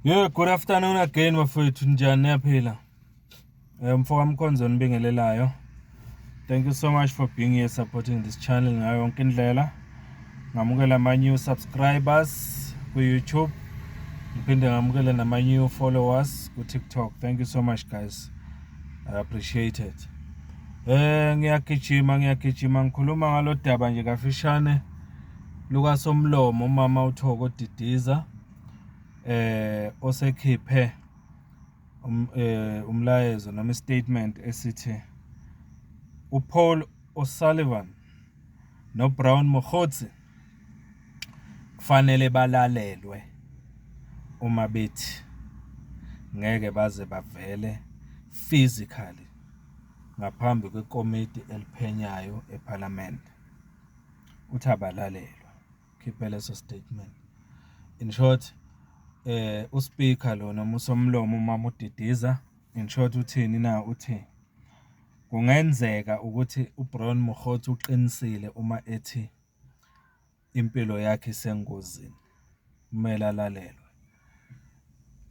Yeah, good afternoon again bafowethu njani niyaphila eh, mfo kamkhonzo nibingelelayo thank you so much for being here supporting this channel ngayo yonke indlela ngamukela ama-new subscribers ku-youtube ngiphinde ngamukele nama-new followers ku-tiktok thank you so much guys i appreciate it um eh, ngiyagijima ngiyagijima ngikhuluma ngalo daba nje kafishane lukaSomlomo umama uThoko Didiza eh osekhiphe um, eh, umlayezo noma istatement esithi uPaul O'Sullivan noBrown Mogotsi kufanele balalelwe uma bethi ngeke baze bavele physically ngaphambi kwekomiti eliphenyayo ePhalamende. uthi abalalelwa ukhiphe leso statement in short eh uSpeaker lo noma usomlomo uma mudidiza in short uthini na uthi kungenzeka ukuthi uBrown Mokgotsi uqinisile uma ethi impilo yakhe isengozini kumele alalelwe.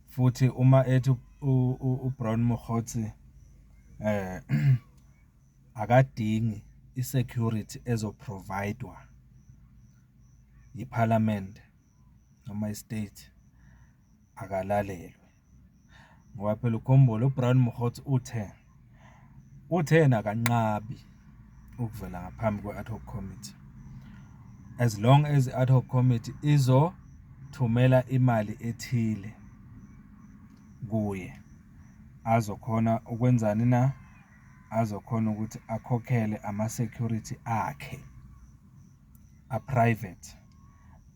Futhi uma ethi uBrown Mokgotsi akadingi i-security ezo-provide-wa yiphalamende noma i-state, akalalelwe. ngoba phela ukhombole uBrown Mokgotsi uthe uthe yena kanqabi ukuvela ngaphambi kwe-ad hoc committee as long as i-ad hoc committee izothumela imali ethile kuye azokhona ukwenzani na azokhona ukuthi akhokhele ama-security akhe a-private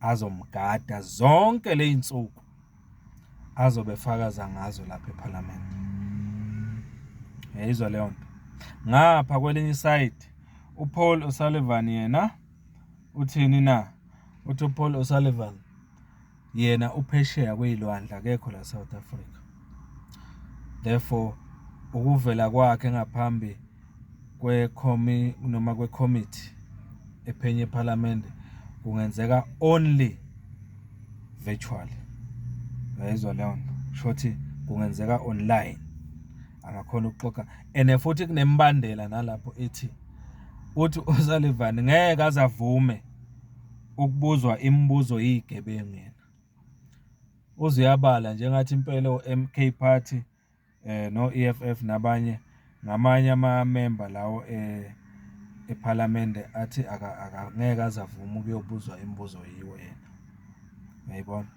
azomgada zonke ley'nsuku azobe fakaza ngazo lapha ephalamende yayizwa leyo nto ngapha kwelinye isayidi uPaul O'Sullivan yena uthini na uthi uPaul O'Sullivan yena uphesheya kwey'lwandle akekho la South Africa therefore ukuvela kwakhe ngaphambi kwekhomi noma kwekhomithi ephenye ephalamende kungenzeka only virtually ngayizwa leyo nto shothi kungenzeka online angakhona ukuxoxa and futhi kunembandela nalapho ethi uthi uSalivani ngeke azavume ukubuzwa imibuzo iyigebengu yena. Uze uyabala nje ngathi impela o-MK Party eh no-EFF nabanye ngamanye amamemba lawo eh ephalamende athi akangeke aze avume ukuyobuzwa imibuzo yiwo yena. Ngiyayibona.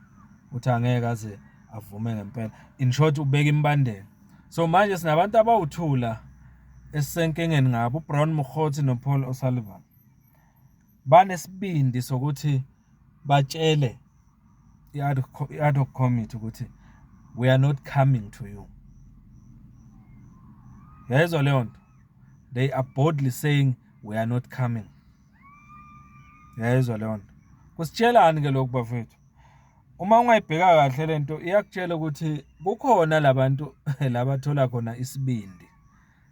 Uthi angeke aze avume ngempela. In short ubeka imbandela. So manje sinabantu abawuthula esisenkingeni ngabo uBrown Mokgotsi noPaul O'Sullivan. banesibindi sokuthi batshele i-ad hoc committee ukuthi we are not coming to you yayizwa leyo nto they are boldly saying we are not coming yayizwa leyo nto kusitshelani ke lokhu bafethu uma ungayibheka kahle lento iyakutshela ukuthi kukhona labantu labathola khona isibindi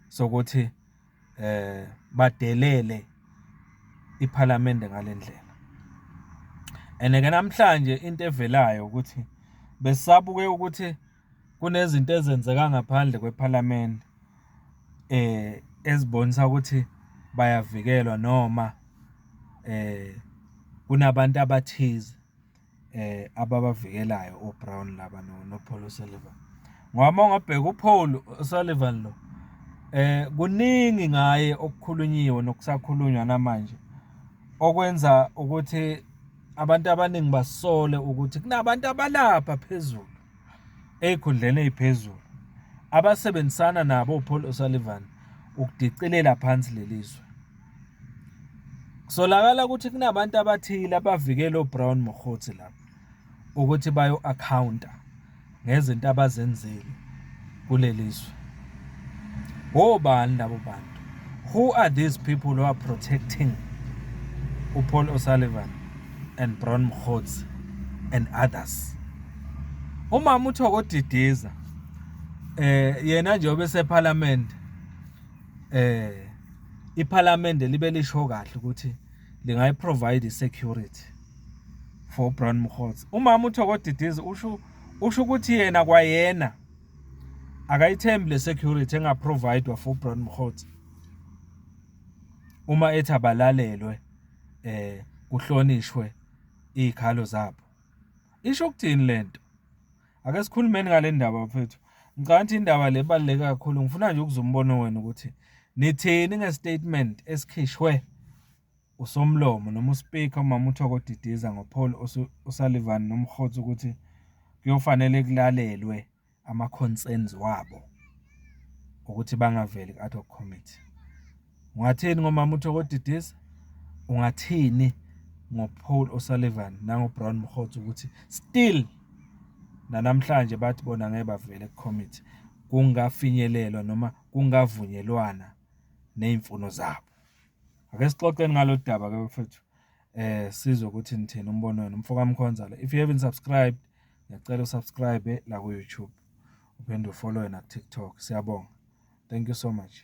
sokuthi eh badelele iphalamende ngalendlela and ke namhlanje into evelayo ukuthi besabuke ukuthi kunezinto ezenzeka ngaphandle kwephalamende eh ezibonisa ukuthi bayavikelwa noma eh kunabantu abathize ababavikelayo oBrown laba noPaul O'Sullivan ngoba uma ungabheka uPaul O'Sullivan lo eh kuningi ngaye okukhulunyiwe nokusakhulunywa namanje okwenza ukuthi abantu abaningi basole ukuthi kunabantu abalapha phezulu ezikhundleni eziphezulu abasebenzisana nabo uPaul O'Sullivan ukudicilela phansi lelizwe. Kusolakala ukuthi kunabantu abathile abavikela uBrown Mokgotsi lapha ukuthi bayo-akhawunta ngezinto abazenzile kuleli zwe. Wobani labo bantu? Who are these people who are protecting uPaul O'Sullivan and Brown Mokgotsi and others? Umama uThoko Didiza eh yena nje obesephalamende eh iPhalamende libe lisho kahle ukuthi lingayi provide security for Brown Mkhotsi umama uThoko Didizi usho usho ukuthi yena kwayena akayithembi le security enga providwa for Brown Mkhotsi uma ethi abalalelwe eh kuhlonishwe izikhalo zabo isho ukuthini lento Ake sikhulumeni ngale ndaba bafethu. Ngicabanga ukuthi indaba le baluleke kakhulu. Ngifuna nje ukuzwa umbono wenu ukuthi nithini ngestatement esikhishwe usomlomo noma uspeaker umama uThoko Didiza ngoPaul uSullivan nomkhotsi ukuthi kuyofanele kulalelwe ama concerns wabo ukuthi bangaveli ku-ad hoc committee. Ungathini ngomama uThokodidisa? Ungathini ngoPaul O'Sullivan nangoBrown Mkhotsi ukuthi still nanamhlanje bathi bona ngeke bavele kucommittee kungafinyelelwa noma kungavunyelwana nezimfuno zabo. Ake sixoxeni ngalolu daba ke mfethu. Eh sizwe ukuthi nithini umbono wenu mfoka Mkhonzala. If you haven't subscribed, ngiyacela usubscribe la ku YouTube. Uphinde ufollow na TikTok. Siyabonga. Thank you so much.